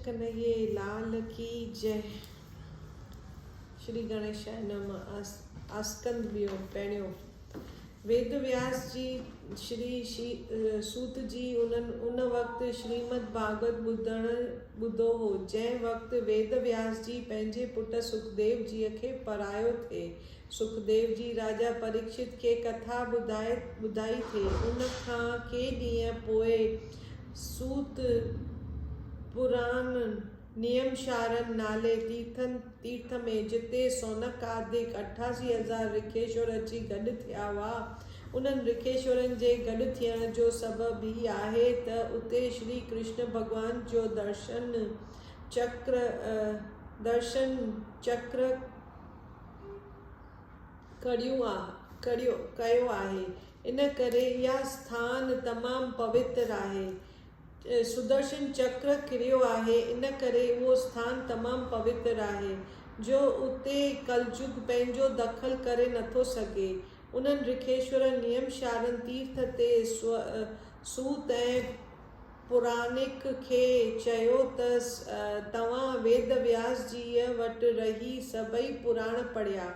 ڪنهيي لال ڪي جئه. شري گڻيشائي نم آسڪند ويو پيڻيو. ويد وياس جي شري سوت جي انهن ان وقت شريمد ڀاڳوت ٻڌڻ ٻڌو هو جنهن وقت ويد وياس جي پنهنجي پٽ سکديو جيء کي پرايو ٿئي سکديو جي راجا پريڪشت کي ڪٿا ٻڌائي ٿي ان کان ڪي ڏينهن پوء سوت پراڻن نيمشارن نالي تيرٿن تيرٿ ۾ جتي سونڪ آدڪ اٺاسي هزار رکيشور اچي گڏ ٿيا هئا. انهن رکيشورن جي گڏ ٿيڻ جو سبب هي آهي ته اتي شري ڪرشن ڀڳوان جو درشن چڪر درشن چڪر ڪريو ڪريو ڪيو آهي. ان ڪري اها اسٿان تمام پوتر آهي. سدرشن چڪر ڪريو آهي، ان ڪري اهو اسٿان تمام پوتر آهي، جو اتي ڪلجگ پنهنجو دخل ڪري نٿو سگهي. انهن رکيشور نيم شارن تيرٿ تي سوت ۽ پورانڪ کي چيو ته توهان ويد وياس جيء وٽ رهي سڀئي پراڻ پڙهيا،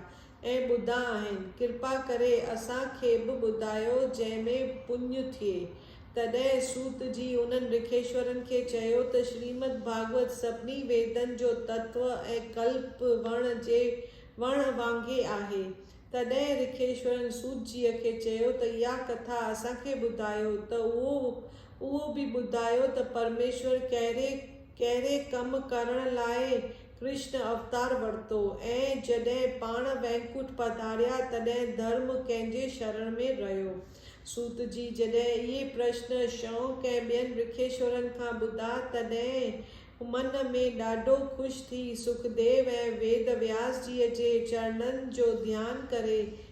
۽ ٻڌا آهن، ڪرپا ڪري اسان کي به ٻڌايو جنهن ۾ پڃ ٿئي. تڏهن سوت جي انهن رکيشورن کي چيو ته شريمد ڀاڳوت سڀني ويدن جو تتو ۽ ڪلپ وڻ جي وڻ وانگي آهي. تڏهن رکيشورن سوت جيء کي چيو ته اها ڪٿا اسان کي ٻڌايو ته اهو اهو به ٻڌايو ته پرميشور ڪهڙي ڪهڙي ڪم ڪرڻ لاء ڪرشن اوتار ورتو ۽ جڏهن پاڻ وينڪوٽ پڌاريا تڏهن ڌرم ڪنهن جي شرڻ ۾ رهيو؟ سوت جي جڏهن اهي پرشن شئونڪ ۽ ٻين رکيشورن کان ٻڌا تڏهن من ۾ ڏاڍو خوش ٿي سکديو ۽ ويد وياس جيء جي چرڻن جو ڌيان ڪري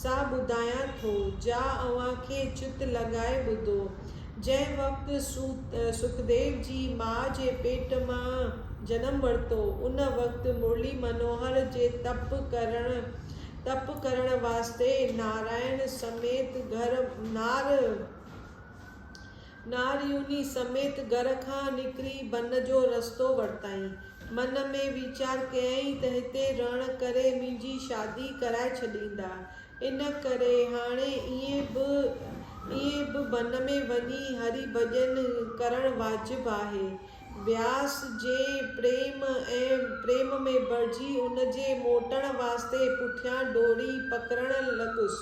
سا ٻڌايان ٿو، جا اوهان کي چت لڳائي ٻڌو. جنهن وقت سکديو جي ماء جي پيٽ مان جنم ورتو، ان وقت مرلي منوهر جي تپ ڪرڻ تپ ڪرڻ واسطي نارائڻ سميت گهر نار ناريوني سميت گهر کان نڪري بن جو رستو ورتائين. من ۾ ويچار ڪيائين ته هتي رهڻ ڪري منهنجي شادي ڪرائي ڇڏيندا. ان ڪري هاڻي ائين به ائين به بن ۾ وڃي هري ڀڄن ڪرڻ واجب آهي. بياس جي پريم ۽ پريم ۾ ڀرجي ان جي موٽڻ واسطي پٺيان ڊوري پڪڙڻ لڳس.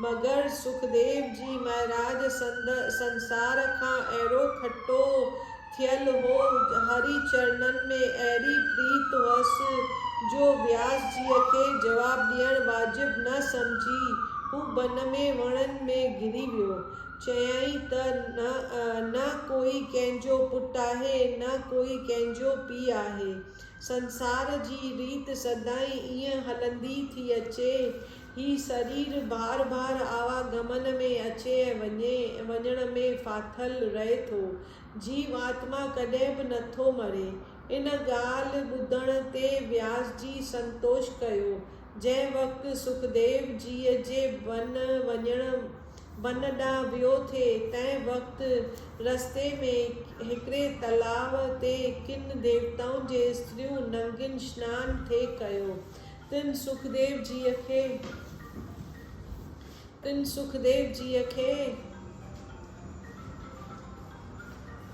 مگر سکديو جي مهراج سنڌ سنسار کان اهڙو کٽو ٿيل هو، هري چرنن ۾ اهڙي پريت هئس، جو بياس جيء کي جواب ڏيڻ واجب نه سمجهي، هو بن ۾ وڻن ۾ گري ويو. چيائين ته نه نه ڪوئي ڪنهن جو پٽ آهي، نه ڪوئي ڪنهن جو پيء آهي. سنسار جي ريت سدائين ائين هلندي ٿي اچي. هي سرير بار بار آواگمن ۾ اچي ۽ وڃي وڃڻ ۾ ڦاٿل رهي ٿو. جيو آتما ڪڏهن به نٿو مري. ان ڳالهه ٻڌڻ تي وياس جي سنتوش ڪيو. جنهن وقت سکديو جيء جي بن وڃڻ بن ڏانهن ويو ٿي، تنهن وقت رستي ۾ هڪڙي تلاء تي ڪن ديوتائن جي استريون ننگين سنان ٿي ڪيو. تن سکديو جيء کي تن سکديو جيء کي.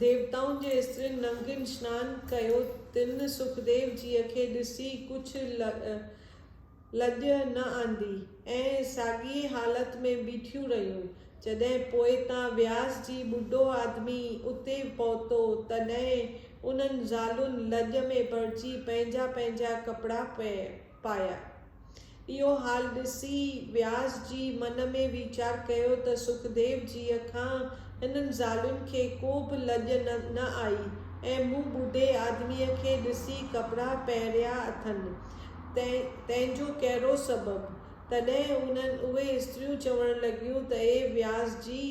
ديوتائن جي استرين ننگين سنان ڪيو تن سکديو جيء کي ڏسي ڪجهه لڄ نه آندي ۽ ساڳيء حالت ۾ بيٺيون رهيون. جڏهن پوء تان وياس جي ٻڍو آدمي اتي پهتو تڏهن انهن زالن لڄ ۾ پڙجي پنهنجا پنهنجا ڪپڙا پئي. پايا. اهو حال ڏسي وياس جي من ۾ ويچار ڪيو ته سکديو جيء کان هنن زالين کي ڪو به لڄ نه آئي ۽ مون ٻڍي آدميء کي ڏسي ڪپڙا پهريا اٿن، تنهن جو ڪهڙو سبب؟ تڏهن اهي استريون چوڻ لڳيون ته اي وياس جي!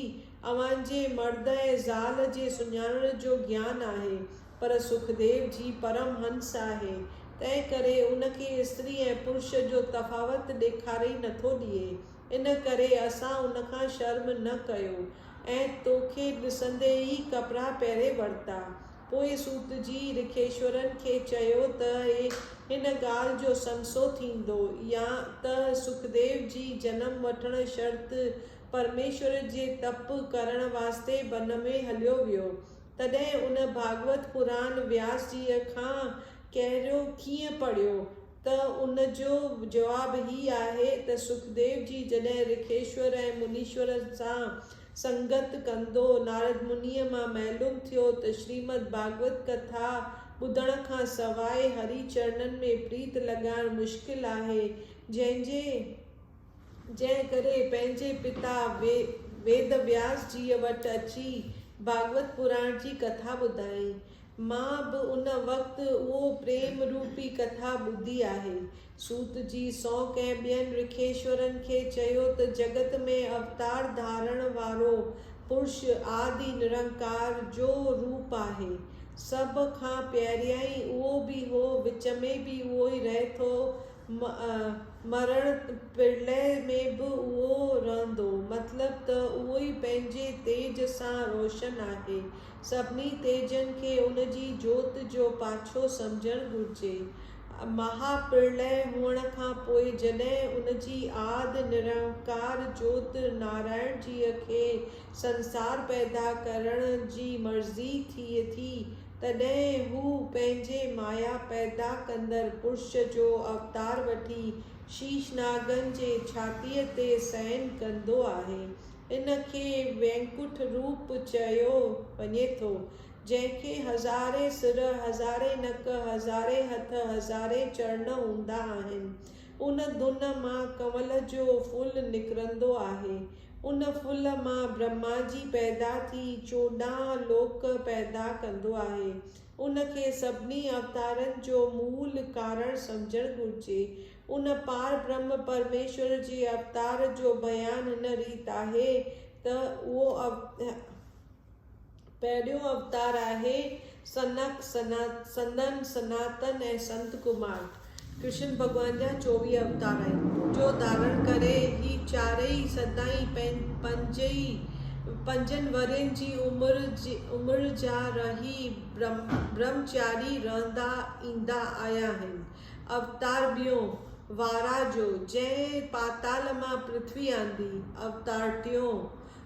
اوهان جي مرد ۽ زال جي سڃاڻڻ جو گيان آهي، پر سکديو جي پرم هنس آهي، تنهن ڪري ان کي استري ۽ پرش جو تفاوت ڏيکاري نٿو ڏئي. ان ڪري اسان ان کان شرم نه ڪيو ۽ تو کي ڏسندي ئي ڪپڙا پهري ورتا. پوء سوت جي رکيشورن کي چيو ته اي هن ڳالهه جو سنسو ٿيندو يا ته سکديو جي جنم وٺڻ شرط پرميشور جي تپ ڪرڻ واسطي بن ۾ هليو ويو تڏهن ان ڀاڳوت پراڻ وياس جيء کان ڪهريو ڪيئن پڙهيو ته ان جو جواب هي آهي ته سکديو جي جڏهن رکيشور ۽ منيشورن سان سنگت ڪندو نارد منيء مان معلوم ٿيو ته شريمد ڀاڳوت ڪٿا ٻڌڻ کان سواء هري چرڻن ۾ پريت لڳائڻ مشڪل آهي جنهن جي جنهن ڪري پنهنجي پتا ويد وياس جيء وٽ اچي ڀاڳوت پراڻ جي ڪٿا ٻڌائين. مان به ان وقت اهو پريم روپي ڪٿا ٻڌي آهي. سوت جي سونڪ ۽ ٻين رکيشورن کي چيو ته جڳت ۾ اوتار ڌارڻ وارو پرش آدي نرنڪار جو روپ آهي. سڀ کان پهريائين اهو به هو، وچ ۾ به اهو ئي رهي ٿو، مرڻ پرلئه ۾ به اهو رهندو، مطلب ته اهو ئي پنهنجي تيج سان روشن آهي. سڀني تيجن کي ان جي جوت جو پاڇو سمجهڻ گهرجي. مها پرلئه هئڻ کان پوء جڏهن ان جي آد نرنڪار جوت نارائڻ جيء کي سنسار پيدا ڪرڻ جي مرضي ٿئي ٿي، تڏهن هو پنهنجي مايا پيدا ڪندڙ پرش جو اوتار وٺي شيشناگن جي ڇاتيء تي سئين ڪندو آهي. ان کي وينڪٺ روپ چيو وڃي ٿو، جنهن کي هزارين سر، هزارين نڪ، هزارين هٿ، هزارين چرڻ هوندا آهن. ان دن مان ڪنول جو ڦل نڪرندو آهي. ان ڦل مان برهما جي پيدا ٿي چوڏهن لوڪ پيدا ڪندو آهي. ان کي سڀني اوتارن جو مول ڪارڻ سمجهڻ گهرجي. ان پار برهما پرميشور جي اوتار جو بيان هن ريت آهي ته اهو پهريون اوتار آهي سنک، سنن، سناتن ۽ سنت ڪمار. ڪرشن ڀڳوان جا چوويهه اوتار آهن، جو ڌارڻ ڪري هي چارئي سدائين پنجن ورهين جي عمر جا رهي برهمچاري رهندا ايندا آيا آهن. اوتار ٻيون، وارا جو، جنهن پاتال مان پرٿوي آندي. اوتار ٽيون،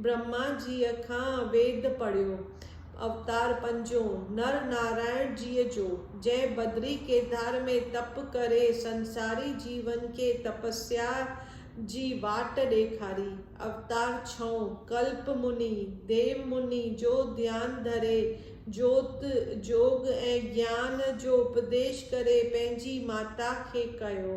برهما جيء کان ويد پڙهيو، اوتار پنجون، نر نارائڻ جيء جو، جنهن بدري ڪيدار ۾ تپ ڪري سنساري جيون کي تپسيا جي واٽ ڏيکاري، اوتار ڇهون، ڪلپ مني، ديو مني جو ڌيان ڌري جوت، جوڳ ۽ گيان جو اپديش ڪري پنهنجي ماتا کي ڪيو.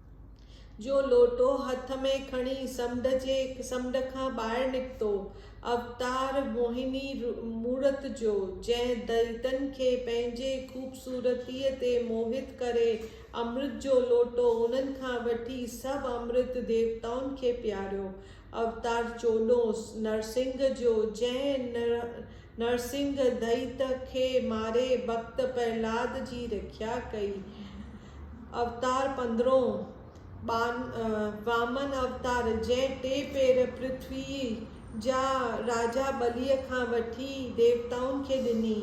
جو لوٽو هٿ ۾ کڻي سمنڊ جي سمنڊ کان ٻاهر نڪتو، اوتار موهني مورت جو، جنهن دليتن کي پنهنجي خوبصورتيء تي موهت ڪري امرت جو لوٽو انهن کان وٺي سڀ امرت ديوتائن کي پياريو، اوتار چوڏهون نرسنگهه جو، جنهن نرسنگهه دئيت کي ماري ڀڳت پرهلاد جي رکيا ڪئي. اوتار پندرهون، وامن اوتار، جنهن ٽي پير پرٿويء جا راجا ٻليء کان وٺي ديوتائن کي ڏني.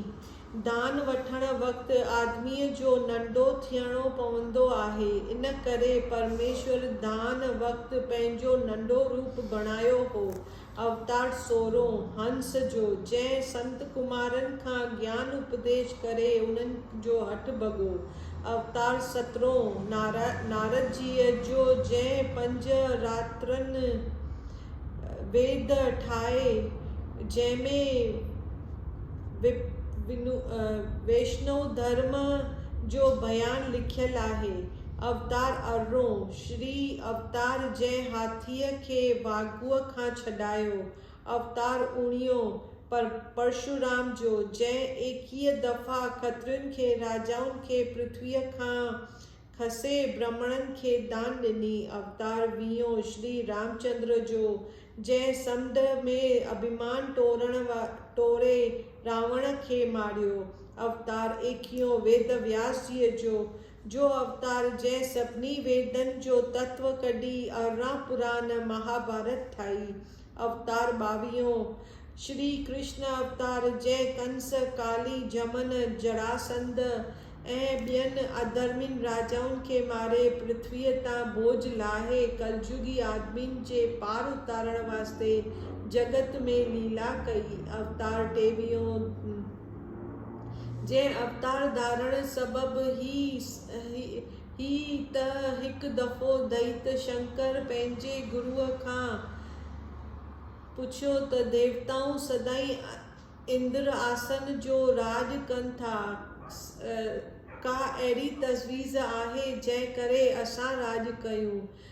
دان وٺڻ وقت آدميء جو ننڍو ٿيڻو پوندو آهي، ان ڪري پرميشور دان وقت پنهنجو ننڍو روپ بڻايو هو، اوتار سورهون، هنس جو، جنهن سنت ڪمارن کان گيان اپديش ڪري انهن جو هٺ ڀڳو، اوتار سترهون، نارد جيء جو، جنهن پنج راترن ويد ٺاهي، جنهن ۾ ويشنو ڌرم جو بيان لکيل آهي. اوتار ارڙهون، شري اوتار جنهن هاٿيء کي واگهوء کان ڇڏايو، اوتار اوڻيهون، پر پرشورام جو، جنهن ايڪيهه دفعا کترين کي، راجائن کي پرٿويء کان کسي، برهمڻن کي دان ڏني، اوتار ويهون، شري رامچندر جو، جنهن سمنڊ ۾ اڀيمان ٽوري راوڻ کي ماريو، اوتار ايڪيهون، ويد وياس جيء جو، جو اوتار جنهن سڀني ويدن جو تتو ڪڍي ارڙهن پران مهاڀارت ٺاهي. اوتار ٻاويهون، شري ڪرشن اوتار جنهن ڪنس، ڪالي، جهمن، جراسنڌ ۽ ٻين اڌرمين راجائن کي ماري پرٿويء تان بوج لاهي ڪلجوڳي آدمين جي پار اتارڻ واسطي جڳت ۾ ليلا ڪئي. اوتار ٽيويهون، جنهن اوتار ڌارڻ سبب هي ته هڪ دفعو دئيت شنڪر پنهنجي گروء کان پڇيو ته ديوتائون سدائين اندر آسن جو راڄ ڪن ٿا، ڪا اهڙي تجويز آهي جنهن ڪري اسان راڄ ڪيون؟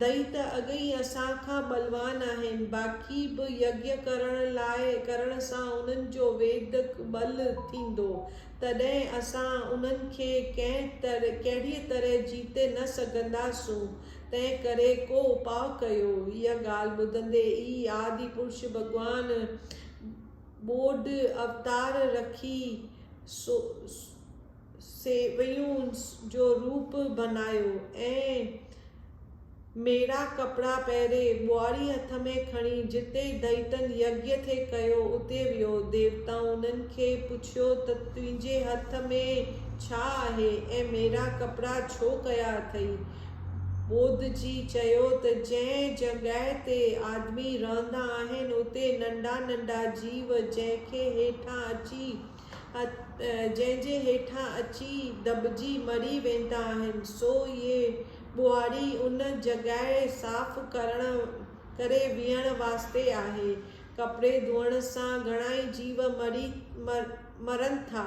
دئي ته اڳ ئي اسان کان ٻلوان آهن، باقي به يگيا ڪرڻ لاء ڪرڻ سان انهن جو ويدڪ ٻل ٿيندو، تڏهن اسان انهن کي ڪنهن ڪهڙيء طرح جيتي نه سگهنداسون، تنهن ڪري ڪو اپاء ڪيو. اها ڳالهه ٻڌندي ئي آدي پرش ڀڳوان ٻوڏ اوتار رکي سو، سيويون جو روپ بنايو ۽ ميڙا ڪپڙا پهري، ٻهاري هٿ ۾ کڻي، جتي دئيتن يگيء کي ڪيو، اتي ويو. ديوتائن کي پڇيو ته تنهنجي هٿ ۾ ڇا آهي ۽ ميڙا ڪپڙا ڇو ڪيا اٿئي؟ ٻوڌ جي چيو ته جنهن جڳهه تي آدمي رهندا آهن، اتي ننڍا ننڍا جيو، جنهن کي هيٺان اچي، جنهن جي هيٺان اچي دٻجي مري ويندا آهن سو اهي ٻهاري ان جڳهه صاف ڪرڻ ڪري ويهڻ واسطي آهي ڪپڙي ڌوئڻ سان گهڻائي جيو مري مرن ٿا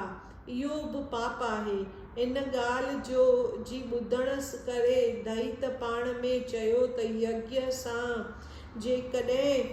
اهو به پاپ آهي ان ڳالهه جو جي ٻڌڻ ڪري دئيت پاڻ ۾ چيو ته يگيا سان جيڪڏهن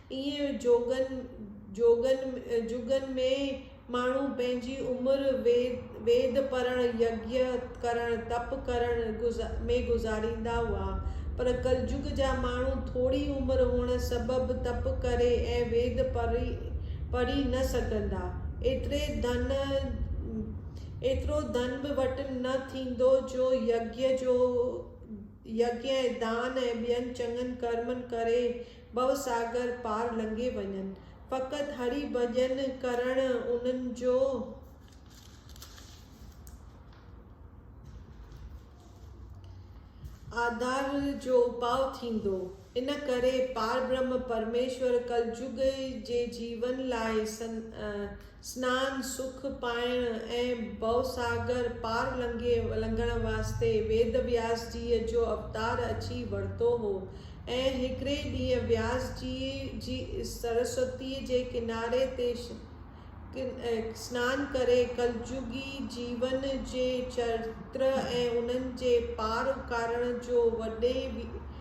ايئن جوڳن جوڳن جڳن ۾ ماڻهو پنهنجي عمر ويد پڙهڻ، يگيا ڪرڻ، تپ ڪرڻ ۾ گذاريندا هئا، پر ڪلجڳ جا ماڻهو ٿوري عمر هئڻ سبب تپ ڪري ۽ ويد پڙهي نه سگهندا. ايتري ڌن ايترو ڌن به وٽ نه ٿيندو جو يگيا جو يگيا ۽ دان ۽ ٻين چڱن ڪرمن ڪري ڀوساگر پار لنگهي وڃن. فقط هري ڀڄن ڪرڻ انهن جو. آڌار جو اپاء ٿيندو. ان ڪري پاربرهم پرميشور ڪلجگ جي جيون لاء سنان، سک پائڻ ۽ ڀوساگر پار لنگهي لنگهڻ واسطي ويد وياس جيء جو اوتار اچي ورتو هو ۽ هڪڙي ڏينهن وياس جيء جي سرسوتيء جي ڪناري تي سنان ڪري ڪلجوڳي جيون جي چرتر ۽ انهن جي پار اڪارڻ جو وڏي